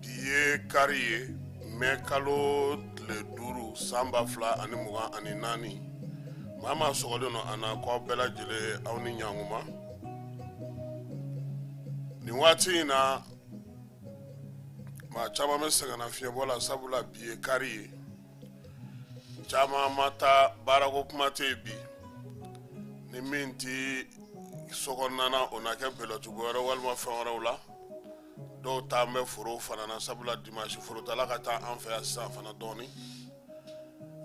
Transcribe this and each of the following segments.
bi ye kari ye mɛ kalo tile duuru san ba fila ani mugan ani naani maa maa sɔgɔlen nɔ an na ko aw bɛɛ lajɛlen aw ni ɲankuma nin waati in na maa caman bɛ sɛgɛnnafiɲɛbɔ la sabula bi ye kari ye caman ma taa baarako kuma tɛ yen bi ni min tɛ sokɔnɔna o na kɛ bɛlɛtugu wɛrɛ walima fɛn wɛrɛw la dɔw taa bɛ foro fana na sabula dimanche forotaala ka ca an fɛ yan sisan fana dɔɔni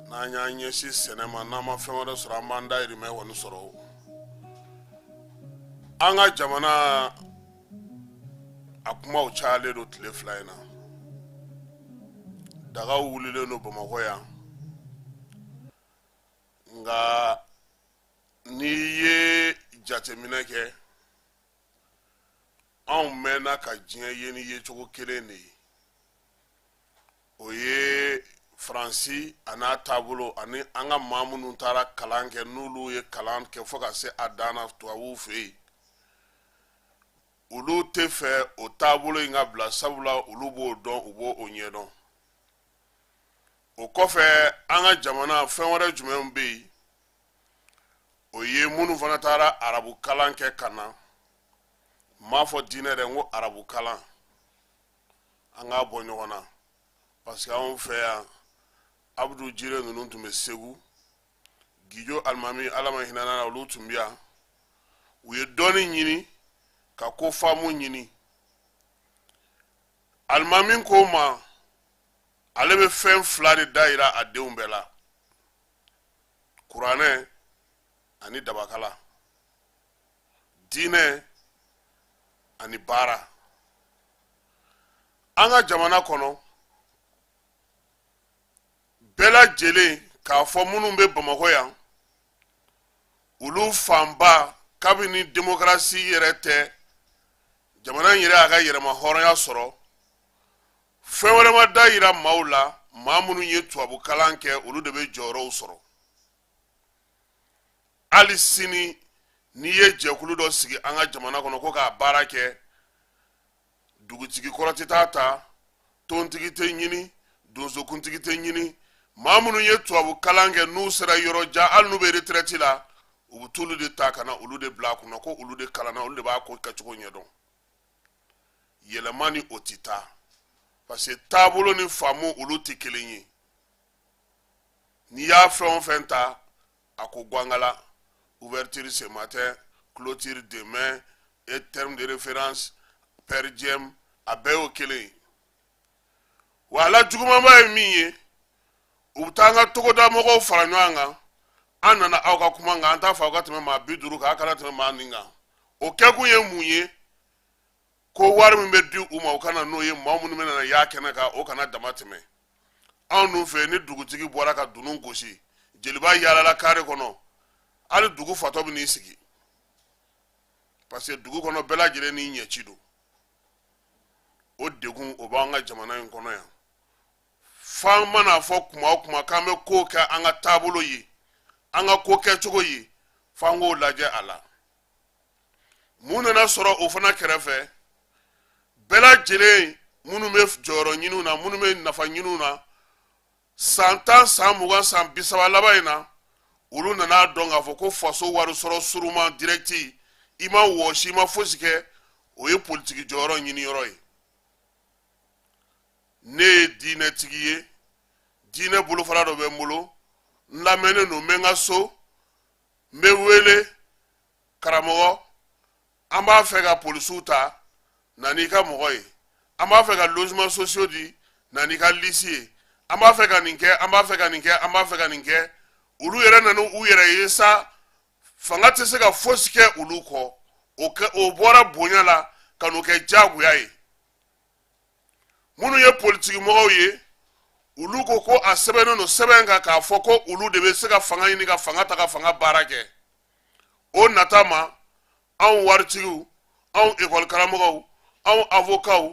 n'an y'an ɲɛsin sɛnɛ ma n'an ma fɛn wɛrɛ sɔrɔ an b'an dayirimɛ kɔni sɔrɔ an ka jamana a kumaw cayalen don tile fila in na dagaw wulilen don bamakɔ yan nka n'i ye jateminɛ kɛ anw mɛnna ka diɲɛ ye ni yecogo kelen de ye o ye faransi a n'a taabolo ani an ka maa minnu taara kalan kɛ n'olu ye kalan kɛ fo ka se a dan na tubabuw fɛ yen olu tɛ fɛ o taabolo in ka bila sabula olu b'o dɔn u b'o ɲɛdɔn o kɔfɛ an ka jamana fɛn wɛrɛ jumɛn bɛ yen o ye minnu fana taara arabu kalan kɛ ka na n m'a fɔ diinɛ dɛ n ko arabu kalan an k'a bɔ ɲɔgɔn na parce que anw fɛ yan abudu jire ninnu tun bɛ segu gijo alimami ala ma hinɛ na olu tun bɛ yan u ye dɔnni ɲini ka ko faamu ɲini alimami ko ma ale bɛ fɛn fila de da yira a denw bɛɛ la kuranɛ ani dabakala diinɛ ani baara an ka jamana kɔnɔ bɛɛ lajɛlen k'a fɔ minnu bɛ bamakɔ yan olu fanba kabini demokarasi yɛrɛ tɛ jamana in yɛrɛ y'a ka yɛrɛmahɔrɔnya sɔrɔ fɛn wɛrɛ ma da yira maaw la maa minnu ye tubabukalan kɛ olu de bɛ jɔyɔrɔw sɔrɔ hali sini n'i ye jɛkulu dɔ sigi an ka jamana kɔnɔ ko k'a baara kɛ dugutigi kɔrɔ tɛ taa ta tontigi tɛ ɲini donsokuntigi tɛ ɲini maa minnu ye tubabu kalan kɛ n'u sera yɔrɔ jan hali n'u bɛ retirɛti la u bɛ t'olu de ta ka na olu de bila a kunna ko olu de kalanna olu de b'a ko kɛcogo ɲɛdɔn yɛlɛma ni o tɛ taa parce que taabolo ni faamu olu tɛ kelen ye n'i y'a fɛn o fɛn ta a ko guangala ouverture ce matin clôture demain et terme de référence per diem a bɛɛ y'o kelen ye wa a la jugumanba ye min ye u bɛ taa an ka togoda mɔgɔw fara ɲɔgɔn kan an nana aw ka kuma kan an t'a fɔ aw ka tɛmɛ maa bi duuru kan aw kana tɛmɛ maa nin kan o kɛkun ye mun ye ko wari min bɛ di u ma u kana n'o ye maa minnu bɛna na y'a kɛnɛ kan o kana dama tɛmɛ anw dun fɛ ni dugutigi bɔra ka dunun gosi jeliba yaalala kare kɔnɔ hali dugu fatɔ bɛ n'i sigi parce que dugu kɔnɔ bɛɛ lajɛlen n'i ɲɛci don o degun o b'an ka jamana in kɔnɔ yan f'an man'a fɔ kuma o kuma k'an bɛ ko kɛ an ka taabolo ye an ka ko kɛcogo ye f'an k'o lajɛ a la mun nana sɔrɔ o fana kɛrɛfɛ bɛɛ lajɛlen minnu bɛ jɔyɔrɔ ɲiniw na minnu bɛ nafa ɲiniw na san tan san mugan san bisaba laban in na olu nan'a dɔn k'a fɔ ko faso wari sɔrɔ suruman dirɛkti i ma wɔsi i ma fosi kɛ o ye politiki jɔyɔrɔ ɲini yɔrɔ ye ne ye diinɛtigi ye diinɛ bolofara dɔ bɛ n bolo n lamɛnnen don n bɛ n ka so n bɛ wele karamɔgɔ an b'a fɛ ka polisiw ta na n'i ka mɔgɔ ye an b'a fɛ ka logement sociaux di na n'i ka lisi ye an b'a fɛ ka nin kɛ an b'a fɛ ka nin kɛ an b'a fɛ ka nin kɛ olu yɛrɛ nana u yɛrɛ ye sa fanga tɛ se ka fosi kɛ olu kɔ o bɔra bonya la ka n'o kɛ jagoya ye minnu ye politikimɔgɔw ye olu ko ko a sɛbɛnnen don sɛbɛn kan k'a fɔ ko olu de bɛ se ka fanga ɲini ka fanga ta ka fanga baara kɛ o nata ma anw waritigiw anw ekɔlikaramɔgɔw anw avokaw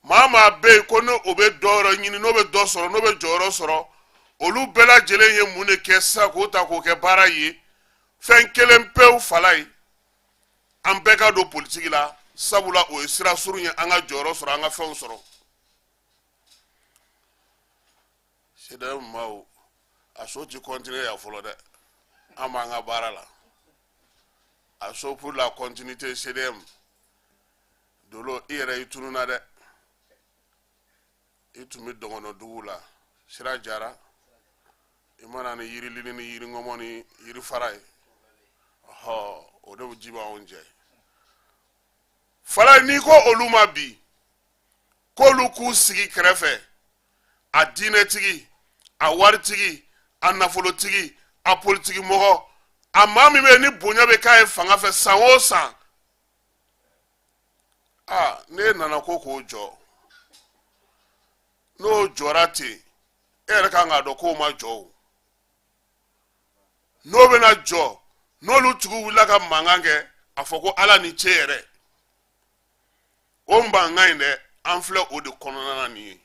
maa maa bɛ yen ko n'o bɛ dɔ yɔrɔ ɲini n'o bɛ dɔ sɔrɔ n'o bɛ jɔyɔrɔ sɔrɔ olu bɛɛ lajɛlen ye mun de kɛ sa k'o ta k'o kɛ baara ye fɛn kelen pewu fala ye an bɛɛ ka don politiki la sabula o ye sira surun ye an ka jɔyɔrɔ sɔrɔ an ka fɛnw sɔrɔ cdm maaw asso ti continuer yan fɔlɔ dɛ an b'an ka baara la asso pour la continuité cdm dolo i yɛrɛ i tununa dɛ i tun bɛ dɔgɔnɔ dugu la sira jara i ma na ni yirilili ni yiringɔmɔ ni yirifara ye ɔhɔ o de ji b'anw jɛ fala n'i ko olu ma bi k'olu k'u sigi kɛrɛfɛ a diinɛtigi a waritigi a nafolotigi a politiki mɔgɔ a maa min bɛ ni bonya bɛ k'a ye fanga fɛ san o san aa n'e nana ko k'o jɔ n'o jɔra ten e yɛrɛ kan k'a dɔn k'o ma jɔ o n'o bɛna jɔ n'olu tigiw wulila ka mankan kɛ a fɔ ko ala ni ce yɛrɛ o mankan in dɛ an filɛ o de kɔnɔna na nin ye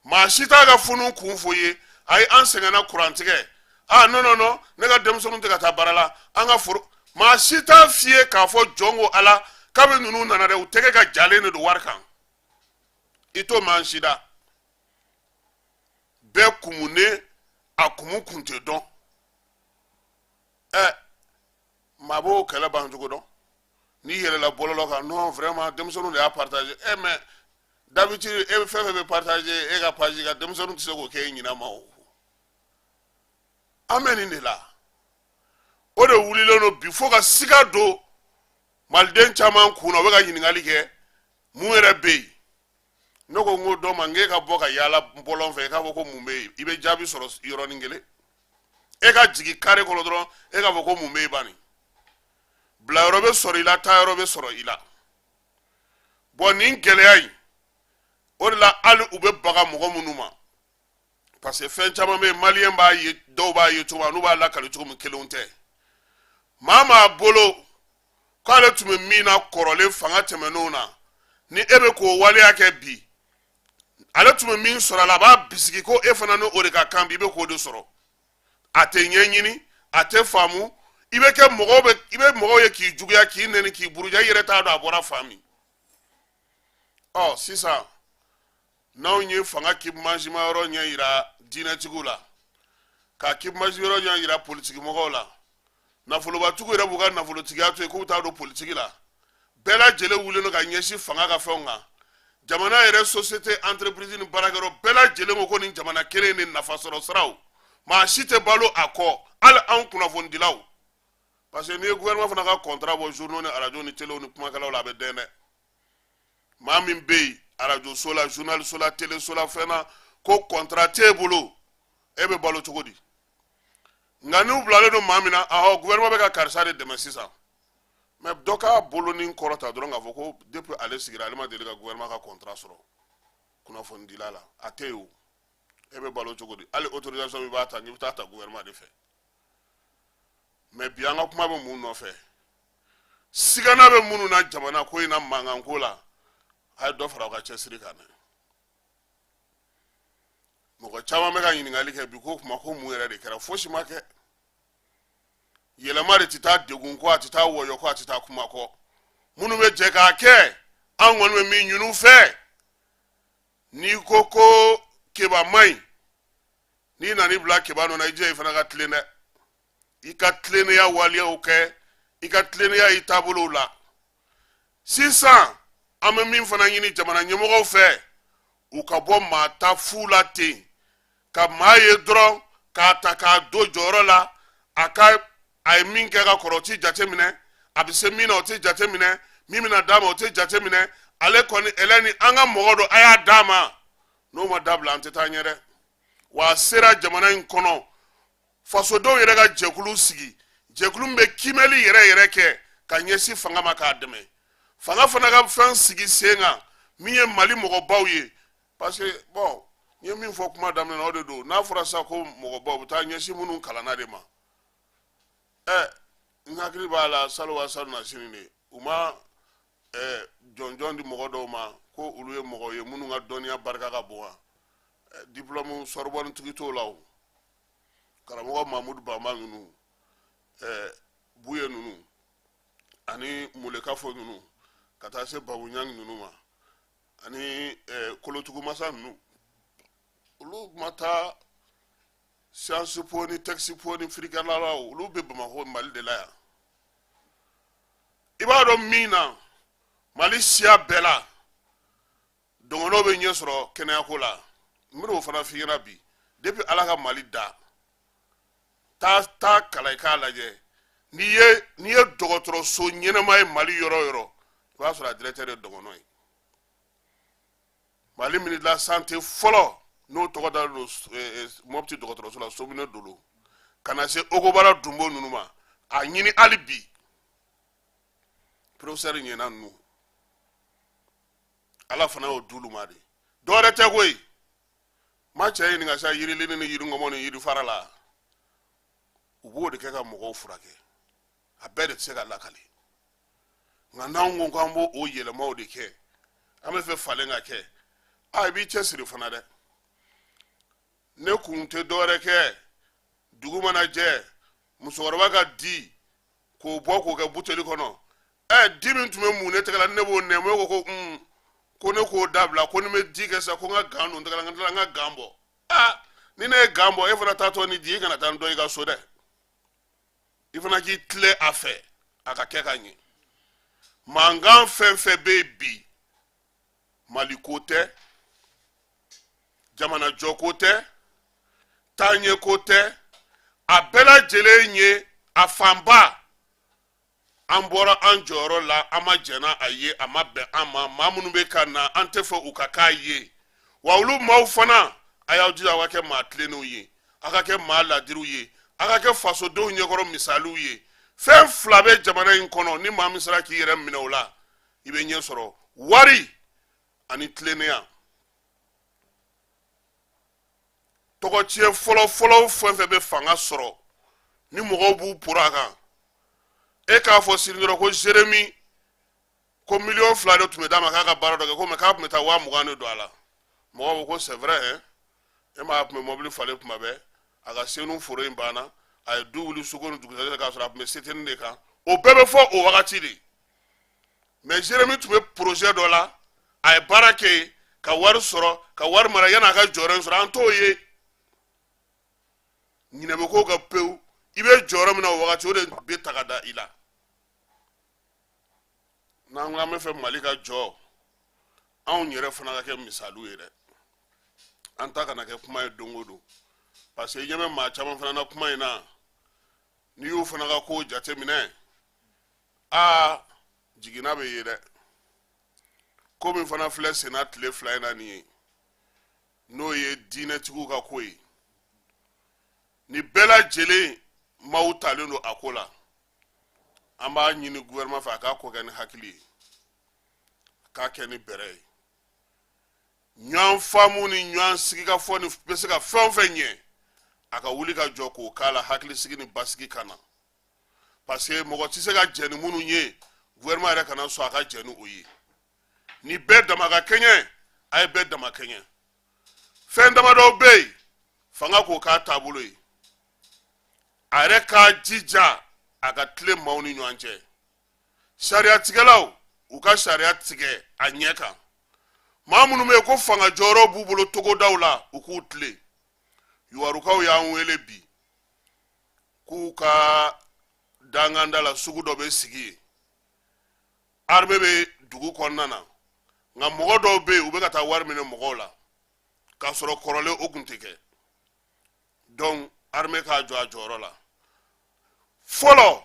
maa si t'a ka funu kun fɔ i ye ayi an sɛgɛnna kurantigɛ a non non non ne ka denmisɛnninw tɛ ka taa baara la an ka foro maa si t'a f'i ye k'a fɔ jɔn ko ala kabi ninnu nana dɛ u tɛgɛ ka jalen de don wari kan i t'o mɛn maa si da bɛɛ kumunen a kumu kun tɛ dɔn ɛ maa b'o kɛlɛ ban cogo dɔn n'i yɛlɛla bɔlɔlɔ kan non vraiment denmisɛnninw de y'a partager e eh, mais d'habitude e fɛn fɛn bɛ partager e ka page kan denmisɛnninw tɛ se k'o kɛ e ɲinama o an bɛ nin de la o de wulilen don bi fo ka siga don maliden caman kun na o bɛ ka ɲininkali kɛ mun yɛrɛ bɛ yen ne ko n ko dɔ ma n k'e ka bɔ ka yaala bɔlɔn fɛ i k'a fɔ ko mun bɛ yen i bɛ jaabi sɔrɔ yɔrɔnin kelen e ka jigin kare kɔnɔ dɔrɔn e k'a fɔ ko mun bɛ yen bani bila yɔrɔ bɛ sɔrɔ i la ta yɔrɔ bɛ sɔrɔ i la bon nin gɛlɛya in o de la hali u bɛ baga mɔgɔ minnu ma parce que fɛn caman bɛ yen maliyɛn b'a ye dɔw b'a ye cogo min n'u b'a lakali cogo min kelen tɛ maa maa bolo k'ale tun bɛ min na kɔrɔlen fanga tɛmɛnenw na ni e bɛ k'o waleya kɛ bi ale tun bɛ min sɔrɔ a la a b'a bisigi ko e fana ni o de ka kan bi i bɛ k'o de sɔrɔ a tɛ ɲɛɲini a tɛ faamu i bɛ i bɛ mɔgɔw ye k'i juguya k'i nɛni k'i buruja i yɛrɛ t'a dɔn a bɔra fan min ɔ sisan n'anw ye fanga kibumazima yɔrɔ ɲɛ yira diinɛtigiw la ka kibumazi yɔrɔ ɲɛ yira politikimɔgɔw la nafolobatigiw yɛrɛ b'u ka nafolotigiya to yen k'u taa don politiki la bɛɛ lajɛlen wulilen don ka ɲɛsin fanga ka fɛnw kan jamana yɛrɛ société entreprise ni baarakɛyɔrɔ bɛɛ lajɛlen ko ko nin jamana kelen ni nafa sɔrɔ siraw maa si tɛ balo a kɔ hali anw kunnafonidilaw parce que n'i ye gouvernement fana ka contrat bɔ journaux ni arajo ni telew ni kumakɛlaw la a bɛ dɛn dɛ maa min bɛ yen arajoso la journaliso la teleso la fɛn na ko contrat t'e bolo e bɛ balo cogo di nka n'u bilalen don maa min na ahɔ gouvernement bɛ ka karisa de dɛmɛ sisan mais dɔ k'a bolo ni kɔrɔta dɔrɔn k'a fɔ ko depuis ale sigira ale ma deli ka gouvernement ka contrat sɔrɔ kunnafonidila la a tɛ yen o e bɛ balo cogo di hali autorisation min b'a ta n'i bɛ t'a ta gouvernement de fɛ mais bi an ka kuma bɛ mun nɔfɛ sigana bɛ minnu na jamana ko in na mankan ko la a ye dɔ fara u ka cɛsiri kan dɛ mɔgɔ caman bɛ ka ɲininkali kɛ bi ko kuma ko mun yɛrɛ de kɛra fosi ma kɛ yɛlɛma de tɛ taa degun kɔ a tɛ taa wɔyɔ kɔ a tɛ taa kuma kɔ minnu bɛ jɛ k'a kɛ an kɔni bɛ min ɲin'u fɛ n'i ko ko keba man ɲi n'i nana i bila keba nɔ na i jija i fana ka tilen dɛ i ka tilennenya waleyaw kɛ i ka tilennenya i taabolow la sisan an bɛ min fana ɲini jamana ɲɛmɔgɔw fɛ u ka bɔ maa ta fu la ten ka maa ye dɔrɔn k'a ta k'a don jɔyɔrɔ la a ka a ye min kɛ ka kɔrɔ o tɛ jate minɛ a bɛ se min na o tɛ jate minɛ min bɛna d'a ma o tɛ jate minɛ ale kɔni ɛlɛ ni an ka mɔgɔ don a y'a d'a ma n'o ma dabila an tɛ taa ɲɛ dɛ wa a sera jamana in kɔnɔ fasodenw yɛrɛ ka jɛkulu sigi jɛkulu min bɛ kiimɛli yɛrɛ yɛrɛ kɛ ka ɲɛsin fanga ma k'a dɛmɛ fanga fana ka fɛn sigi sen kan min ye mali mɔgɔbaw ye parce que bon n ye min fɔ kuma daminɛ na o de don n'a fɔra sa ko mɔgɔbaw bɛ taa ɲɛsin minnu kalanna de ma ɛ n hakili b'a la salon wa salonnasini de u ma ɛɛ jɔnjɔn di mɔgɔ dɔw ma ko olu ye mɔgɔ ye minnu ka dɔnniya barika ka bon wa diplôme sorbonne tigi t'o la o karamɔgɔ mamudu bama ninnu ɛɛ buye ninnu ani mulekafo ninnu ka taa se babu ɲangi ninnu ma ani ɛɛ kolotugu masa ninnu olu ma taa sciences po ni tɛkisi po ni firikɛlalaw olu bɛ bamakɔ mali de la yan i b'a dɔn min na mali siya bɛɛ la dɔgɔnɔ bɛ ɲɛ sɔrɔ kɛnɛyako la n bɛn'o fana f'i ɲɛna bi depuis ala ka mali da taa taa kalan i k'a lajɛ n'i ye n'i ye dɔgɔtɔrɔso ɲɛnama ye mali yɔrɔ o yɔrɔ i b'a sɔrɔ a directeur ye dɔgɔnɔ ye Mali ministre de la santé fɔlɔ n'o tɔgɔ dalen don moti dɔgɔtɔrɔso la Somine Dolo ka na se Ogobara Dunbo ninnu ma a ɲini hali bi professeur Yena ninnu ala fana y'o d'olu ma de dɔwɛrɛ tɛ koyi ma cɛ ɲininka sa yirilini ni yiriŋɔmɔ ni yirifara la u b'o de kɛ ka mɔgɔw furakɛ a bɛɛ de tɛ se ka lakale nka n'an ko k'an b'o o yɛlɛmaw de kɛ an b'a fɛ falen ka kɛ a i b'i cɛsiri fana dɛ ne kun tɛ dɔwɛrɛ kɛ dugu mana jɛ musokɔrɔba ka di k'o bɔ k'o kɛ buteli kɔnɔ ɛ di min tun bɛ mun ne tɛgɛ la ne b'o nɛmɛ ko ko un ko ne k'o dabila ko ni bɛ di kɛ sa ko n ka gan don tɛgɛ la n ka n ka gan bɔ aa ni ne ye gan bɔ e fana taatɔ ni di i kana taa n don i ka so dɛ i fana k'i tilen a fɛ a ka kɛ ka ɲɛ mankan fɛn fɛn bɛ yen bi mali ko tɛ jamanajɔ ko tɛ taaɲɛ ko tɛ a bɛɛ lajɛlen ye a fanba an bɔra an jɔyɔrɔ la an ma jɛn n'a ye a ma bɛn an ma maa minnu bɛ ka na an tɛ fɛ u ka k'a ye wa olu maaw fana a y'aw jija aw ka kɛ maa tilennenw ye aw ka kɛ maa ladiriw ye aw ka kɛ fasodenw ɲɛkɔrɔ misaliw ye fɛn fila bɛ jamana in kɔnɔ ni maa min sera k'i yɛrɛ minɛ o la i bɛ ɲɛ sɔrɔ wari ani tilennenya tɔgɔtiɲɛ fɔlɔfɔlɔ fɛn fɛn bɛ fanga sɔrɔ ni mɔgɔw b'u poron a kan e k'a fɔ sini dɔrɔn ko jeremi ko miliyɔn fila de tun bɛ d'a ma k'a ka baara dɔ kɛ ko mais k'a tun bɛ taa waa mugan de don a la mɔgɔw bɛɛ ko c'est vrai hein e m'a tun bɛ mɔbili falen kuma bɛɛ a ka senu foro in banna a ye du wuli suko ni dugusɛjɛ k'a sɔrɔ a tun bɛ seteni de kan o bɛɛ bɛ fɔ o wagati de mais jeremi tun bɛ porozɛ dɔ la a ye baara kɛ yen ka wari sɔrɔ ka wari mara yan'a ka jɔyɔrɔ in sɔrɔ an t'o ye ɲinɛ bɛ k'o kɔ pewu i bɛ jɔyɔrɔ min na o wagati o de bɛ ta ka da i la n'an ko an bɛ fɛ mali ka jɔ anw yɛrɛ fana ka kɛ misaliw ye dɛ an ta kana kɛ kuma ye don o don parce que i ɲɛ bɛ maa caman fana na kuma in na n'i y'u fana ka kow jateminɛ aa jiginna bɛ ye dɛ ko min fana filɛ senna tile fila in na nin ye n'o ye diinɛtigiw ka ko ye ni bɛɛ lajɛlen maaw talen don a ko la an b'a ɲini gouvernement fɛ a k'a ko kɛ ni hakili ye a k'a kɛ ni bɛrɛ ye ɲɔgɔn faamu ni ɲɔgɔn sigikafɔ ni bɛ se ka fɛn o fɛn ɲɛ a ka wuli ka jɔ k'o k'a la hakilisigi ni basigi ka na parce que mɔgɔ tɛ se ka jɛn ni minnu ye gouvernement yɛrɛ kana sɔn a ka jɛn ni o ye ni bɛɛ dama ka kɛɲɛ a ye bɛɛ dama kɛɲɛ fɛn damadɔw bɛ yen fanga k'o k'a taabolo ye a yɛrɛ k'a jija a ka tilen maaw ni ɲɔgɔn cɛ sariyatigɛlaw u ka sariya tigɛ a ɲɛ kan maa minnu bɛ yen ko fanga jɔyɔrɔ b'u bolo togodaw la u k'u tilen yuwarukaw y'an wele bi k'u ka dankanda la sugu dɔ bɛ sigi yen armée bɛ dugu kɔnɔna na nka mɔgɔ dɔw bɛ yen u bɛ ka taa wari minɛ mɔgɔw la k'a sɔrɔ kɔrɔlen o tun tɛ kɛ donc armée k'a jɔ a jɔyɔrɔ la fɔlɔ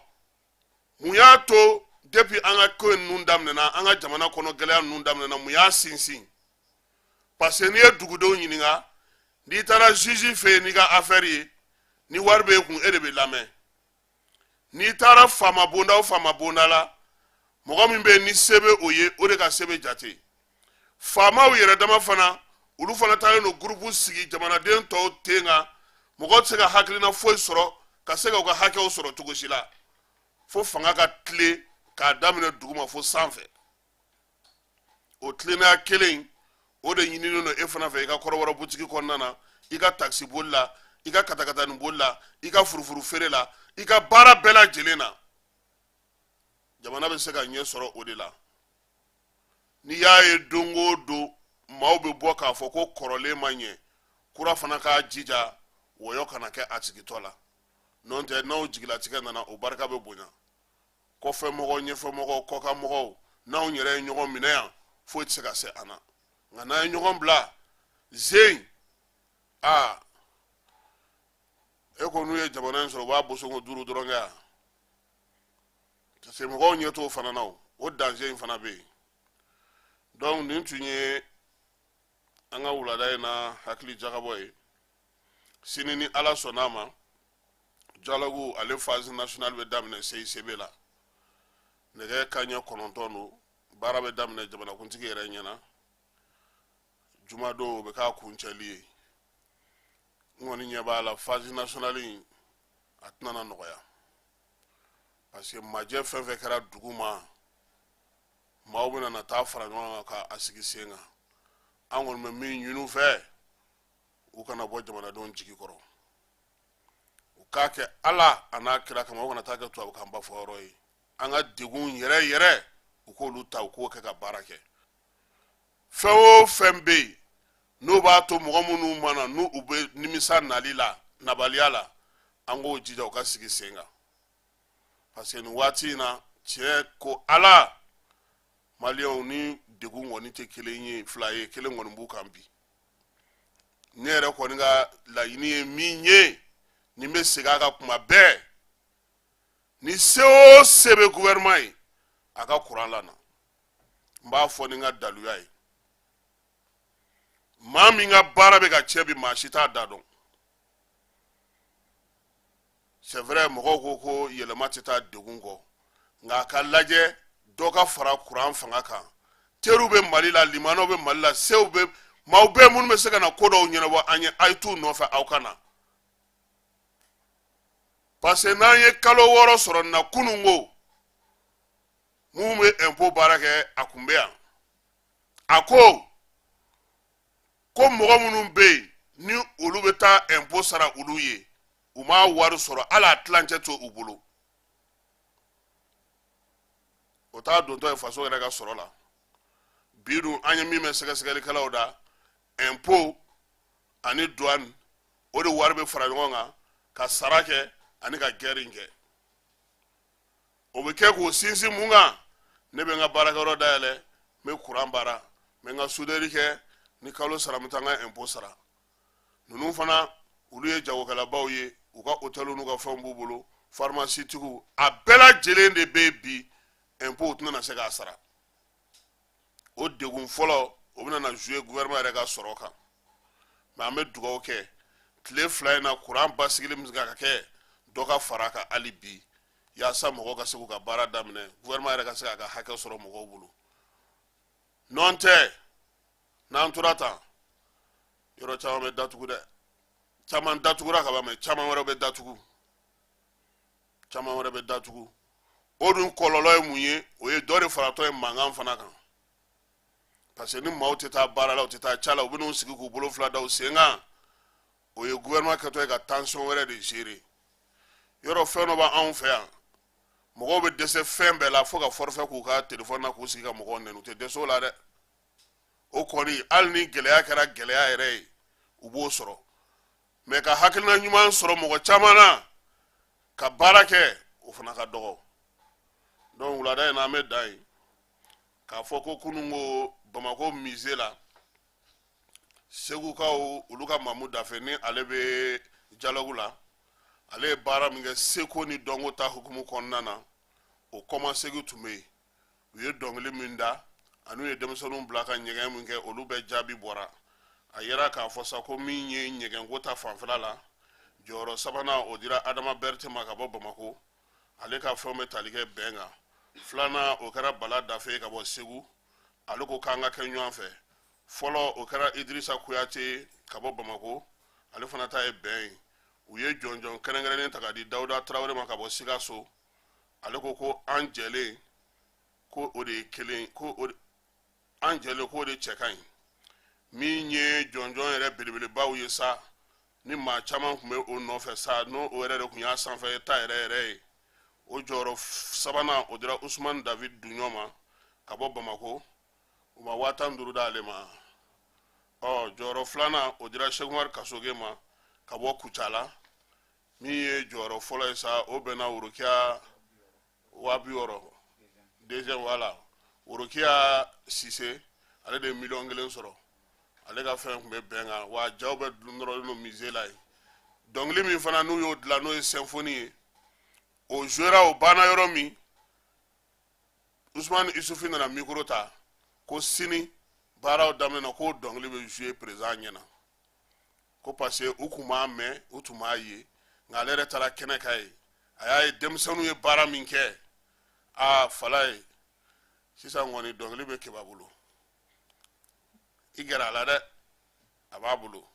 mun y'a to depuis an ka ko ninnu daminɛna an ka jamana kɔnɔ gɛlɛya ninnu daminɛna mun y'a sinsin parce que n'i ye dugudenw ɲininka n'i taara juge fɛ yen n'i ka affaire ye ni wari b'e kun e de bɛ lamɛn n'i taara faama bonda o faama bonda la mɔgɔ min bɛ yen ni se bɛ o ye o de ka se bɛ jate faamaw yɛrɛ dama fana olu fana taalen don groupe sigi jamanaden tɔw ten kan mɔgɔ tɛ se ka hakilina foyi sɔrɔ ka se ka u ka hakɛw sɔrɔ cogo si la fo fanga ka tilen k'a daminɛ duguma fo sanfɛ o tilennenya kelen o de ɲininen don e fana fɛ i ka kɔrɔbɔrɔ butigi kɔnɔna na i ka takisi boli la i ka katakatani boli la i ka furufuru feere la i ka baara bɛɛ lajɛlen na jamana bɛ se ka ɲɛ sɔrɔ o de la n'i y'a ye don o don maaw bɛ bɔ k'a fɔ ko kɔrɔlen ma ɲɛ kura fana k'a jija wɔyɔ kana kɛ a sigitɔ la n'o tɛ n'aw jigilatigɛ nana o barika bɛ bonya kɔfɛmɔgɔw ɲɛfɛmɔgɔw kɔkanmɔgɔw n'anw yɛrɛ ye ɲɔgɔn minɛ yan foyi tɛ se ka se an na nka n'an ye ɲɔgɔn bila zen aa e ko n'u ye jamana in sɔrɔ u b'a bosongo duuru dɔrɔn kɛ yan parce que mɔgɔw ɲɛ t'o fana na o danger in fana bɛ yen donc nin tun ye an ka wulada in na hakili jagabɔ ye sini ni ala sɔnna a ma dialogue ale phase nationale bɛ daminɛ CICB la nɛgɛ kanɲɛ kɔnɔntɔn don baara bɛ daminɛ jamanakuntigi yɛrɛ ɲɛna jumadon o bɛ k'a kuncɛli ye n kɔni ɲɛ b'a la phase nationale in a tɛna na nɔgɔya parce que majɛ fɛn fɛn kɛra duguma maaw bɛna na taa fara ɲɔgɔn kan k'a sigi sen kan an kɔni bɛ min ɲini u fɛ u kana bɔ jamanadenw jigi kɔrɔ u k'a kɛ ala a n'a kira kama o kana taa kɛ tubabukan ba fɔ yɔrɔ ye an ka degun yɛrɛ yɛrɛ u k'olu ta u k'o kɛ ka baara kɛ fɛn o fɛn bɛ yen n'o b'a to mɔgɔ minnu ma na n'u u bɛ nimisa nali la nabaliya la an k'o jija u k'a sigi sen kan parce que nin waati in na tiɲɛ ko ala maliyɛnw ni degun kɔni tɛ kelen ye fila ye kelen kɔni b'u kan bi ne yɛrɛ kɔni ka laɲini ye min ye ne bɛ segin a kan tuma bɛɛ ni se o se bɛ gouvernement ye a ka kuran lana n b'a fɔ ni n ka daluya ye maa min ka baara bɛ ka cɛn bi maa si t'a da dɔn c'est vrai mɔgɔw ko ko yɛlɛma tɛ taa degun kɔ nka a ka lajɛ dɔ ka fara kuran fanga kan teriw bɛ mali la limanaw bɛ mali la sew bɛ maaw bɛɛ minnu bɛ se ka na ko dɔw ɲɛnabɔ an ye a ye t'u nɔfɛ aw ka na parce que n'an ye kalo wɔɔrɔ sɔrɔ na kunun ko minnu bɛ ɛnpo baara kɛ a kun bɛ yan a ko ko mɔgɔ minnu bɛ yen ni olu bɛ taa ɛnpo sara olu ye u ma wari sɔrɔ hali a tilancɛ t'u bolo o t'a dontɔ ye faso yɛrɛ ka sɔrɔ la bi dun an ye min mɛn sɛgɛsɛgɛlikɛlaw da ɛnpo ani duwani o de wari bɛ fara ɲɔgɔn kan ka sara kɛ ani ka gɛri in kɛ o bɛ kɛ k'o sinsin mun kan ne bɛ n ka baarakɛyɔrɔ dayɛlɛ n bɛ kuran baara n bɛ n ka suderi kɛ ni kalo sara n bɛ taa n ka ɛnpo sara ninnu fana olu ye jagokɛlabaw ye u ka otɛliw n'u ka fɛnw b'u bolo farimasitigiw a bɛɛ lajɛlen de bɛ yen bi ɛnpo u tɛna na se k'a sara o degun fɔlɔ o bɛna na zuye gouvernement yɛrɛ ka sɔrɔ kan mɛ an bɛ dugawu kɛ tile fila in na kuran basigili bɛ se ka kɛ dɔ ka fara a kan hali bi yaasa mɔgɔw ka se k'u ka baara daminɛ gouvernement yɛrɛ ka se k'a ka hakɛ sɔrɔ mɔgɔw bolo nɔntɛ n'an tora tan yɔrɔ caman bɛ datugu dɛ caman datugura ka ban mɛ caman wɛrɛ bɛ datugu caman wɛrɛ bɛ datugu o dun kɔlɔlɔ ye mun ye o ye dɔ de faratɔ ye mankan fana kan parce que ni maaw tɛ taa baara la u tɛ taa ca la u bɛn'u sigi k'u bolo fila da u sen kan o ye gouvernement kɛtɔ ye ka tension wɛrɛ de gérer yɔrɔ fɛn dɔ b'anw fɛ yan mɔgɔw bɛ dɛsɛ fɛn bɛɛ la fo ka forfait k'u ka telefɔni na k'u sigi ka mɔgɔw nɛni u tɛ dɛsɛ o la dɛ o kɔni hali ni gɛlɛya kɛra gɛlɛya yɛrɛ ye u b'o sɔrɔ mɛ ka hakilina ɲuman sɔrɔ mɔgɔ caman na ka baara kɛ o fana ka dɔgɔ donc wulada in na an bɛ dan yen k'a fɔ ko kunun ko bamakɔ mize la segukaw olu ka mamu dafe ni ale bɛ jalɔgu la ale ye baara min kɛ seko ni dɔnko ta hukumu kɔnɔna na o kɔmasegin tun bɛ yen u ye dɔnkili min da an'u ye denmisɛnninw bila ka ɲɛgɛn min kɛ olu bɛɛ jaabi bɔra a yera k'a fɔ sa ko min ye ɲɛgɛnko ta fanfɛla la jɔyɔrɔ sabanan o dira adama berete ma ka bɔ bamako ale ka fɛnw bɛ tali kɛ bɛn kan filanan o kɛra bala dafe ka bɔ segu ale ko k'an ka kɛ ɲɔgɔn fɛ fɔlɔ o kɛra idirisa kuyate ka bɔ bamako ale fana ta ye bɛn ye u ye jɔnjɔn kɛrɛnkɛrɛnnen ta ka di dawuda tarawele ma ka bɔ sikaso ale ko ko an jɛlen ko o de ye kelen ko o de an jɛlen ko o de cɛ ka ɲi min ye jɔnjɔn yɛrɛ belebelebaw ye sa ni maa caman tun bɛ o nɔfɛ sa n'o o yɛrɛ de tun y'a sanfɛ ta yɛrɛ yɛrɛ ye o jɔyɔrɔ f- sabanan o dira usman david duɲɔ ma ka bɔ bamako u ma waa tan duuru d'ale ma ɔ jɔyɔrɔ filanan o dira seku umari kasoge ma ka bɔ kucala min ye jɔyɔrɔ fɔlɔ ye sa o bɛnna worokiya waa bi wɔɔrɔ deuxième wala worokiya sise ale de ye miliyɔn kelen sɔrɔ ale ka fɛn tun bɛ bɛn kan wa jaw bɛ nɔrɔlen don musée la yen dɔnkili min fana n'u y'o dilan n'o ye symphonie ye o jouera o banna yɔrɔ min usumani isufi nana mikoro ta ko sini baaraw daminɛ ko dɔnkili bɛ jouer président ɲɛna ko parce que u tun b'a mɛn u tun b'a ye nka ale yɛrɛ taara kɛnɛ kan yen a y'a ye denmisɛnninw ye baara min kɛ a fɔla yen sisan kɔni dɔnkili bɛ keba bolo i gɛrɛ a la dɛ a b'a bolo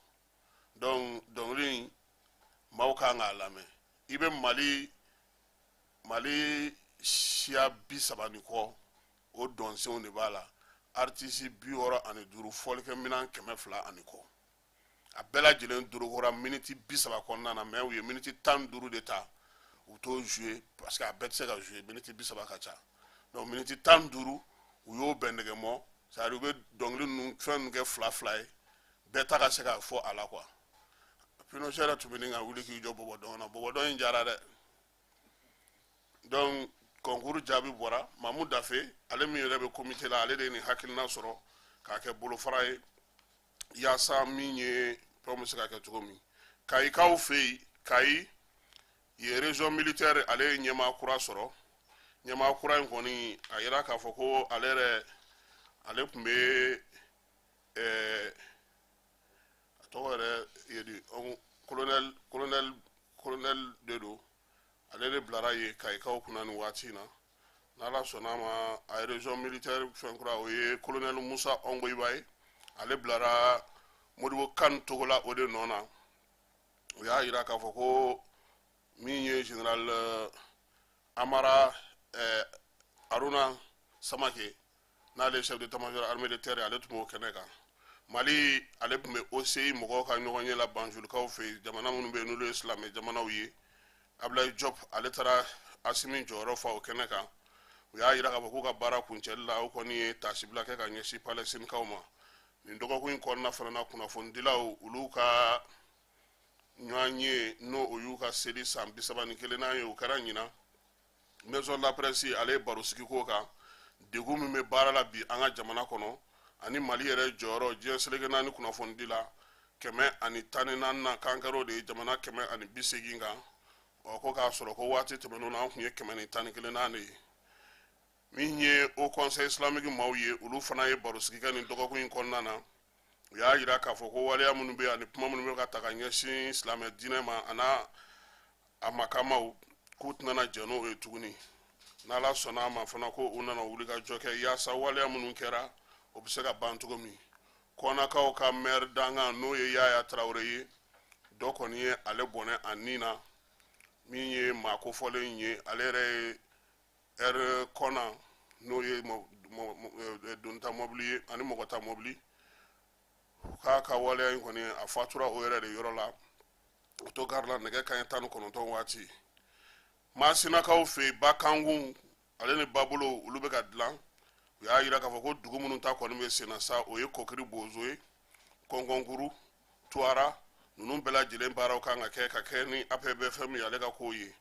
donc dɔnkili in maaw ka kan k'a lamɛn i bɛ mali mali siya bi saba ni kɔ o dɔnsenw de b'a la aritisi bi wɔɔrɔ ani duuru fɔlikɛminɛn kɛmɛ fila ani kɔ a bɛɛ lajɛlen dorogora miniti bi saba kɔnɔna na mais u ye miniti tan duuru de ta u t'o jouer parce que a bɛɛ tɛ se ka jouer miniti bi saba ka ca donc miniti tan duuru u y'o bɛn ɲɔgɔn ma c'est-à-dire u bɛ dɔnkili ninnu fɛn ninnu kɛ fila fila ye bɛɛ ta ka se ka fɔ a la quoi pinochet yɛrɛ tun bɛ ɲini ka wuli k'i jɔ bɔbɔdɔn na bɔbɔdɔn in diyara dɛ donc kɔnkuru jaabi bɔra mamu dafe ale min yɛrɛ bɛ komite la ale de ye nin hakilina sɔrɔ k'a kɛ bolofara ye yaasa min ye fɛnw bɛ se ka kɛ cogo min kayikaw fɛ yen kayi yen région militaire ale ye ɲɛmaa kura sɔrɔ ɲɛmaa kura in kɔni a yira k'a fɔ ko ale yɛrɛ ale tun bɛ ɛɛ a tɔgɔ yɛrɛ ye di colonel colonel kolonɛli de don ale de bilara ye kayikaw kunna nin waati in na n'ala sɔnna ma a ye région militaire fɛn kura o ye kolonɛli musa ɔngoyiba ye ale bilara modibo kane togola o de nɔ na o y'a yira k'a fɔ ko min ye général euh, amara eh, aruna samake n'ale chef d'état-major armée de terre ale tun b'o kɛnɛ kan mali ale tun bɛ oci mɔgɔw ka ɲɔgɔnye la banjulikaw fɛ yen jamana minnu bɛ yen n'olu ye silamɛ jamanaw ye abdulayi jɔp ale taara asimi jɔyɔrɔ fa o kɛnɛ kan u y'a yira k'a fɔ k'u ka baara kuncɛli la o kɔni ye taasibila kɛ ka ɲɛsin palɛstinikaw ma nin dɔgɔkun in kɔnɔna fana na kunnafonidilaw olu ka ɲɔgɔnye n'o o y'u ka seli san bisaba ni kelenna ye o kɛra ɲinan maison de la presse ale ye baro sigi ko kan degun min bɛ baara la bi an ka jamana kɔnɔ ani mali yɛrɛ jɔyɔrɔ diɲɛ seleke naani kunnafonidi la kɛmɛ ani tan ni naani na k'an kɛra o de ye jamana kɛmɛ ani bi seegin kan ɔ ko k'a sɔrɔ ko waati tɛmɛnenw na an tun ye kɛmɛ ni tan ni kelen na de ye min ye haut conseil islamique maaw ye olu fana ye barosigi kɛ nin dɔgɔkun in kɔnɔna na u y'a yira k'a fɔ ko waleya minnu bɛ ani kuma minnu bɛ ka ta ka ɲɛsin silamɛ diinɛ ma an'a a makamaw k'u tɛna jɛn n'o ye tuguni n'ala sɔnna a ma fana ko u nana wuli ka jɔ kɛ yaasa waleya minnu kɛra o bɛ se ka ban cogo min kɔnakaw ka mɛri dankan n'o ye yaya tarawele ye dɔ kɔni ye ale bɔnɛ a ni na min ye maa kofɔlen ye ale yɛrɛ ye ɛri kɔna n'o ye donta mɔbili ye ani mɔgɔta mɔbili u k'a ka waleya in kɔni a fatura o yɛrɛ de yɔrɔ la otogari la nɛgɛ kaɲɛ tan ni kɔnɔntɔn waati maasinakaw fɛ yen bakankun ale ni babolo olu bɛ ka dilan u y'a yira k'a fɔ ko dugu minnu ta kɔni bɛ senna sa o ye kɔkiri bozo ye kɔnkɔnkuru tuwara ninnu bɛɛ lajɛlen baaraw kan ka kɛ ka kɛ ni apbfm ye ale ka kow ye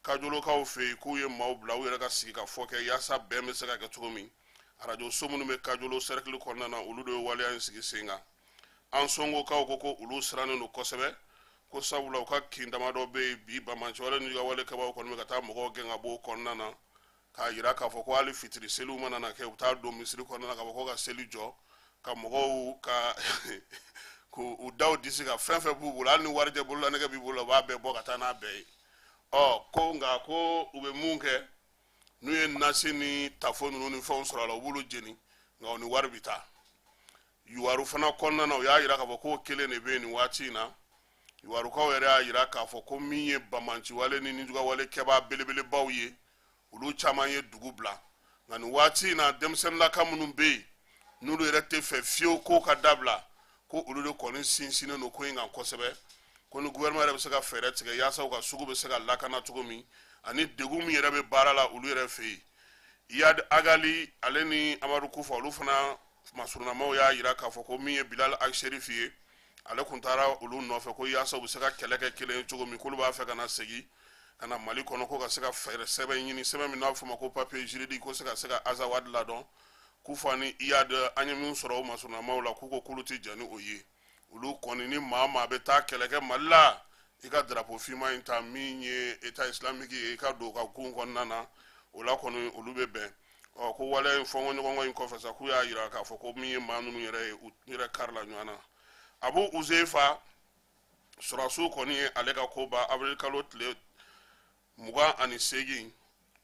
kajolokaw fɛ yen k'u ye maaw bila u yɛrɛ ka sigikafɔ kɛ yaasa bɛn bɛ se ka kɛ cogo min arajo so minnu bɛ kajolo sɛrɛkili kɔnɔna na olu de ye waleya in sigi sen kan ansongokaw ko ko olu sirannen don kosɛbɛ ko sabula u ka kin damadɔ bɛ yen bi bamanciwale nijugawale kɛbaaw kɔni bɛ ka taa mɔgɔw gɛn ka bɔ o kɔnɔna na k'a yira k'a fɔ ko hali fitiri seliw mana na kɛ u taa don misiri kɔnɔna na k'a fɔ ko ka seli jɔ ka mɔgɔw ka k'u da u disi kan fɛn fɛn b'u bolo hali ni warijɛ bololanɛgɛ b'i bolo u b'a bɛɛ bɔ ka taa n'a bɛɛ ye ɔ ko nka ko u bɛ mun kɛ n'u ye nasi ni tafo ninnu ni fɛnw sɔrɔ a la u b'olu jeni nka u ni wari bɛ taa yuwaru fana kɔnɔna na u y'a yira k'a fɔ k'o kelen de bɛ yen nin waati in na yuwarukaw yɛrɛ y'a yira k'a fɔ ko min ye bamanciwale ni nijugawale kɛbaa belebelebaw ye olu caman ye dugu bila nka nin waati in na denmisɛnninlaka minnu bɛ yen n'olu yɛrɛ tɛ fɛ fiyewu ko ka dabila ko olu de kɔni sinsinnen don ko in kan kosɛbɛ ko ni gouvernement yɛrɛ bɛ se ka fɛɛrɛ tigɛ yaasa u ka sugu bɛ se ka lakana cogo min ani degun min yɛrɛ bɛ baara la olu yɛrɛ fɛ yen Iyad Ag Ghali ale ni Amadu Kufa olu fana masurunamaw y'a yira k'a fɔ ko min ye Bilal Ag Cherif ye ale kun taara olu nɔfɛ ko yaasa u bɛ se ka kɛlɛ kɛ kelen ye cogo min k'olu b'a fɛ ka na segin ka na Mali kɔnɔ ko ka se ka fɛɛrɛ sɛbɛn ɲini sɛbɛn min n'a bɛ f'o ma ko papier juridique ko se ka se ka Azawad ladɔn kufa ni iyad an ye min sɔrɔ o masurunamaw la k'u ko k'olu tɛ jɛn ni o ye olu kɔni ni maa maa bɛ taa kɛlɛ kɛ mali la i ka darapo finma in ta min ye eta isilamiki ye i ka don ka gun kɔnɔna na o la kɔni olu bɛ bɛn ko waleya in fɔnkɔɲɔgɔnkɔ in kɔfɛ sa k'u y'a yira k'a fɔ ko min ye maa ninnu yɛrɛ ye u yɛrɛ karila ɲɔgɔn na abu uzefa sɔrɔsiw kɔni ye ale ka ko ban avril kalo tile mugan ani seegin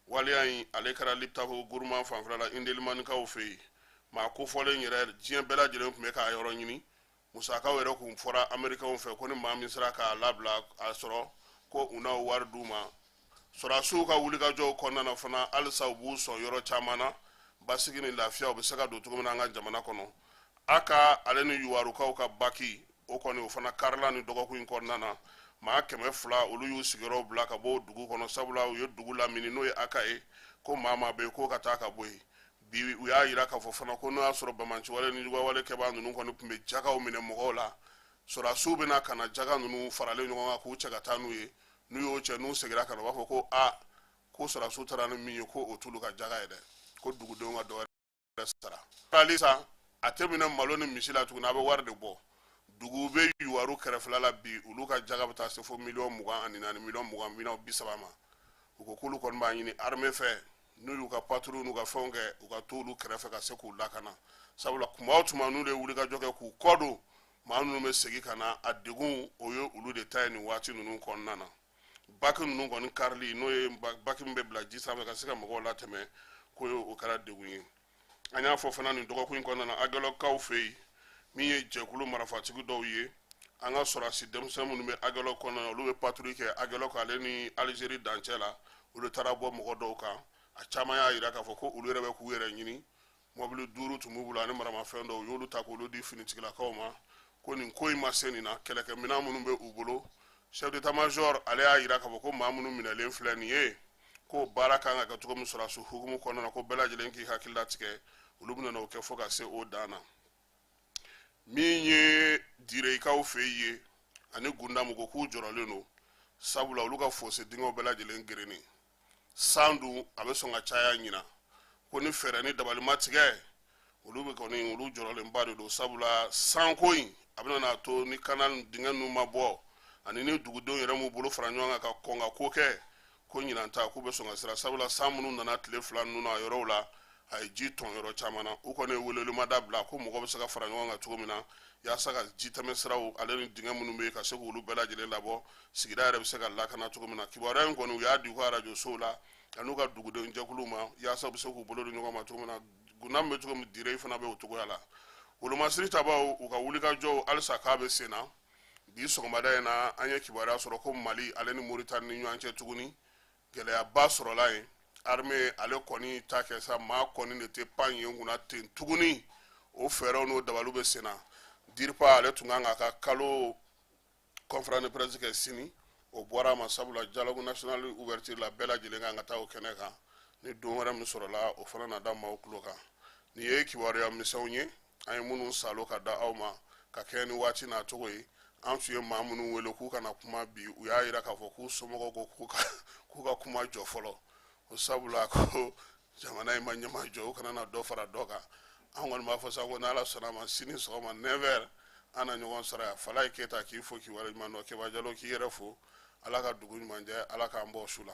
waleya in ale kɛra liptako guruma fanfɛla la indelimanikaw fɛ yen maa kofɔlen yɛrɛ diɲɛ bɛɛ lajɛlen tun bɛ k'a yɔrɔ ɲini musakaw yɛrɛ kun fɔra amerikɛnw fɛ ko ni maa min sera k'a labila a sɔrɔ ko u na wari d'u ma sɔrɔdasiw ka wulikajɔw kɔnɔna na fana halisa u b'u sɔn yɔrɔ caman na basigi ni lafiya o bɛ se ka don cogo min na an ka jamana kɔnɔ aka ale ni yuwarukaw ka baki o kɔni o fana karila nin dɔgɔkun in kɔnɔna na maa kɛmɛ fila olu y'u sigiyɔrɔw bila ka bɔ dugu kɔnɔ sabula u ye dugu lamini n'o ye aka ye ko maa maa bɛ yen k'o ka taa ka bɔ yen bi u y'a yira k'a fɔ fana ko n'o y'a sɔrɔ bamanciwale ni juguwale kɛbaa ninnu kɔni tun bɛ jagaw minɛ mɔgɔw la sɔrɔdasiw bɛna ka na jaga ninnu faralen ɲɔgɔn kan k'u cɛ ka taa n'u ye n'u y'o cɛ n'u segira ka na u b'a fɔ ko a ko sɔrɔdasiw taara ni min ye ko o t'olu ka jaga ye dɛ ko dugudenw ka dɔ wɛrɛ sara halisa a tɛ minɛ malo ni misi la tuguni a bɛ wari de bɔ dugu bɛ yuwaru kɛrɛfɛla la bi olu ka jaga bɛ taa se fo miliyɔn mugan ani naani miliyɔn mugan miliyɔn bi saba ma u ko k'olu kɔni b'a ɲini armée fɛ n'u y'u ka patrouille n'u ka fɛnw kɛ u ka t'olu kɛrɛfɛ ka se k'u lakana sabula tuma o tuma n'u de ye wulikajɔ kɛ k'u kɔ don maa ninnu bɛ segin ka na a degun o ye olu de ta ye nin waati ninnu kɔnɔna na baki ninnu kɔni karili n'o ye baki min bɛ bila ji sanfɛ ka se ka mɔgɔw latɛmɛ ko o kɛra degun ye an y'a fɔ fana nin dɔgɔkun in kɔnɔna na agɛlɔkaw fɛ yen min ye jɛkulu marafatigi dɔw ye an ka sɔrɔdasi denmisɛn minnu bɛ agɛlɔ kɔnɔna na olu bɛ patrouille kɛ agɛlɔk ale ni alizeri dancɛ la olu taara bɔ mɔgɔ dɔw kan a caman y'a yira k'a fɔ ko olu yɛrɛ bɛ k'u yɛrɛ ɲini mɔbili duuru tun b'u bolo ani maramafɛn dɔw u y'olu ta k'olu di finitigilakaw ma ko nin ko in ma se nin na kɛlɛkɛminɛn minnu bɛ u bolo chef d'état major ale y'a yira k'a fɔ ko maa minnu minɛlen filɛ nin ye ko baara kan ka kɛ cogo min sɔrɔdasiw hukumu kɔnɔna na ko bɛɛ lajɛlen k'i hakili latigɛ olu bɛna o kɛ fo ka se o dan na min ye direkaw fɛ ye ani gundamu ko k'u jɔrɔlen don sabula olu ka fose dingɛw bɛɛ lajɛlen gerennen san dun a bɛ sɔn ka caya ɲinan ko ni fɛɛrɛ ni dabali ma tigɛ olu bɛ kɔni olu jɔrɔlenba de don sabula sanko in a bɛna n'a to ni kanal dingɛ ninnu ma bɔ ani ni dugudenw yɛrɛ m'u bolo fara ɲɔgɔn kan ka kɔn ka ko kɛ ko ɲinan ta k'u bɛ sɔn ka siran sabula san minnu nana tile fila ninnu a yɔrɔw la a ye ji tɔn yɔrɔ caman na u kɔni welewelemada bila ko mɔgɔ bɛ se ka fara ɲɔgɔn kan cogo min na yaasa ka ji tɛmɛn siraw ale ni dingɛ minnu bɛ yen ka se k' olu bɛɛ lajɛlen labɔ sigida yɛrɛ bɛ se ka lakana cogo min na kibaruya in kɔni u y'a di u ka arajosow la an'u ka dugudenw jɛkuluw ma yaasa u bɛ se k'u bolo di ɲɔgɔn ma cogo min na gundam bɛ cogo min dire fana bɛ o cogoya la wolomasiri tabaw u ka wulikajɔw halisa k'a bɛ sen na bi sɔgɔmada in na an ye kibaruya sɔrɔ ko mali ale ni moritani ni ɲɔgɔn cɛ tuguni gɛlɛyaba sɔrɔla yen arme ale kɔni ta kɛ sa maa kɔni de tɛ pan yen kunna ten tuguni o fɛɛrɛw n'o dabaliw bɛ sen na diripa ale tun kan k'a ka kalo conférence de presse kɛ sini o bɔra a ma sabula dialogue national ouverture la bɛɛ lajɛlen kan ka taa o kɛnɛ kan ni don wɛrɛ min sɔrɔla o fana na da maaw tulo kan nin ye kibaruya misɛnw ye an ye minnu saalo ka da aw ma ka kɛɲɛ ni waati n'a cogo ye an tun ye maa minnu wele k'u ka na kuma bi u y'a yira k'a fɔ k'u somɔgɔw ko k'u ka kuma jɔ fɔlɔ o sabula ko jamana in ma ɲɛmajɔ u kana na dɔ fara dɔ kan an kɔni b'a fɔ sa ko n'ala sɔnna a ma sini sɔgɔma 9 heures an na ɲɔgɔn sɔrɔ yan falaye keyita k'i fo k'i waleɲuman dɔn keba jalo k'i yɛrɛ fo ala ka dugu ɲuman jɛ ala k'an bɔ su la